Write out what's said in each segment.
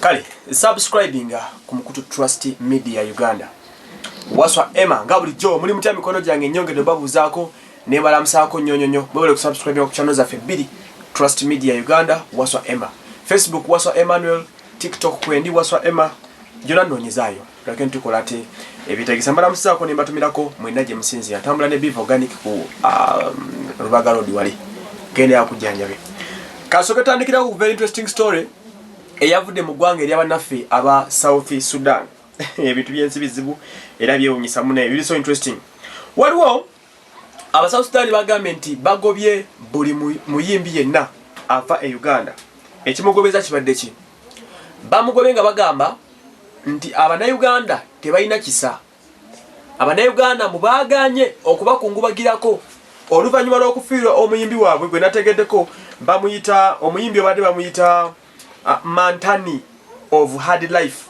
kale subscribinga ku mukutu trust media uganda waswa emma nga bulijjo muli mutya mikono gyange nyongedde obabuuzaako nebalamusaako nyonyonyo mwebale kusubscribinga ku channel zaffe bbiri trust media uganda waswa emma facebook waswa emmanuel tiktok kwendi waswa emma gyona nnoonyezaayo tulake ntukola ate ebitegesa mbalamusizaako ne mbatumirako mwenna gye musinzira ntambula ne biva organic ku um, rubaga road wali genda yakujjanjabe kasooke tandikirawo ku very interesting story eyavudde mu ggwanga erya bannaffe aba south sudan ebintu byensi bizibu era byewunyisa muna ebiri so interesting waliwo Abasawusitaani bagambye nti bagobye buli muyimbi yenna ava e Uganda. Ekimugobeza kibadde ki? Bamugobe nga bagamba nti Abanayuganda tebalina kisa. Abanayuganda mu baaganye okubakungubagirako oluvannyuma lw'okufiirwa omuyimbi waabwe gwe nategeddeko bamuyita omuyimbi obadde bamuyita Ah, Mantani of Hard Life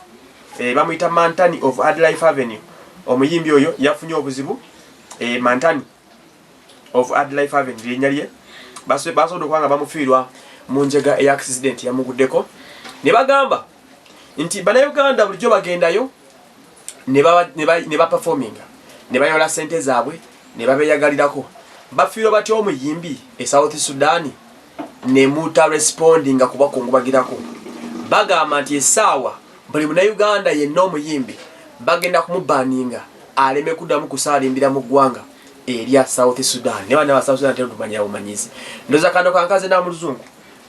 e, bamuyita Mantani of Hard Life Avenue. Omuyimbi oyo yafunye obuzibu e, Mantani of Hard Life Avenue linya lye basobola okuba nga bamufiirwa mu njega eya accident yamuguddeko ne bagamba nti bannayuganda bulijjo bagendayo ne baperforminga ne bayola sente zaabwe ne babeyagalirako bafiirwa batya omuyimbi e south sudani nemuta respondinga kubakungubagirako bagamba nti esaawa buli munauganda yenna omuyimbi bagenda kumubaninga aleme kuddamu kusaalimbira mu ggwanga erya south sudan ne bana ba south sudan tetumanyira bumanyizi ndoza kano kankaze na muluzungu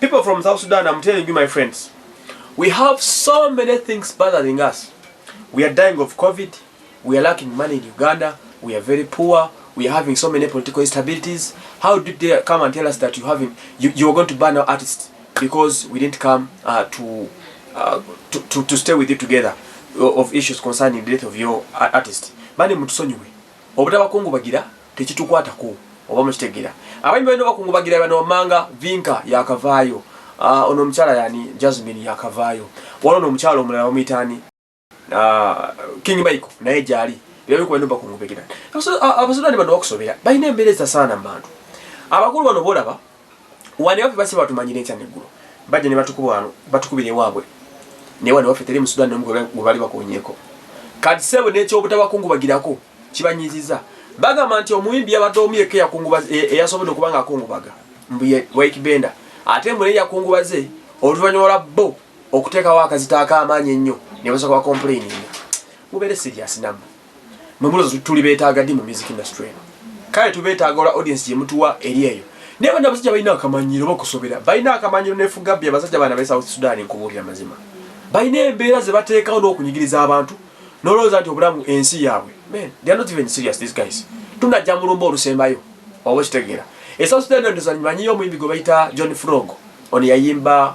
people from south sudan i'm telling you my friends we have so many things bothering us we are dying of covid We are lacking money in Uganda. We are very poor. We are having so many political instabilities. How did they come and tell us that you having you, you are going to ban our artists because we didn't come uh, to, uh, to, to to stay with you together uh, of issues concerning the death of your uh, artist. Bani mutusonyiwe. Obutabakungu bagira tekitukwatako oba mukitegera. Abayimbi balina bakungu bagira bano wamanga vinka yakavaayo. Uh, ono omukyala yani Jasmine yakavaayo. Wano omukyala omulala omuyitaani. Ah, King Michael naye gyali byali kuba ndumba kumubegera abasudani bano bakusobera balina embeera ezitasaana mu bantu abakulu bano boolaba wani waffe basi batumanyira enkya neggulo bajja ne batukuba wano batukubira ewaabwe naye wani waffe teri musudani nomu gwe bali bakonyeeko kati sebo nekyobutabakungubagirakwo kibanyiziza bagamba nti omuyimbi yabadde omu yekka eyasobodde okuba nga akungubaga mbu waikibenda ate mbu naye yakungubaze oluvannyuma lwa bo okuteekawo akazito ak'amaanyi ennyo ne basooka ba complayininga mubeere serious namwe mwe mulozo tuli beetaaga di mu music industry eno kale tubeetaaga olwa audience gye mutuwa eri eyo naye bana abasajja balina akamanyiro bakusobera balina akamanyiro nefuga bbi abasajja bana be south sudan nkubuulira mazima balina embeera ze bateekawo n'okunyigiriza abantu nolowooza nti obulamu ensi yaabwe men they are not even serious these guys tunajja mulumba olusembayo oba okitegeera esouth sudan ndoza manyiyo omuyimbi gwe bayita john frog ono yayimba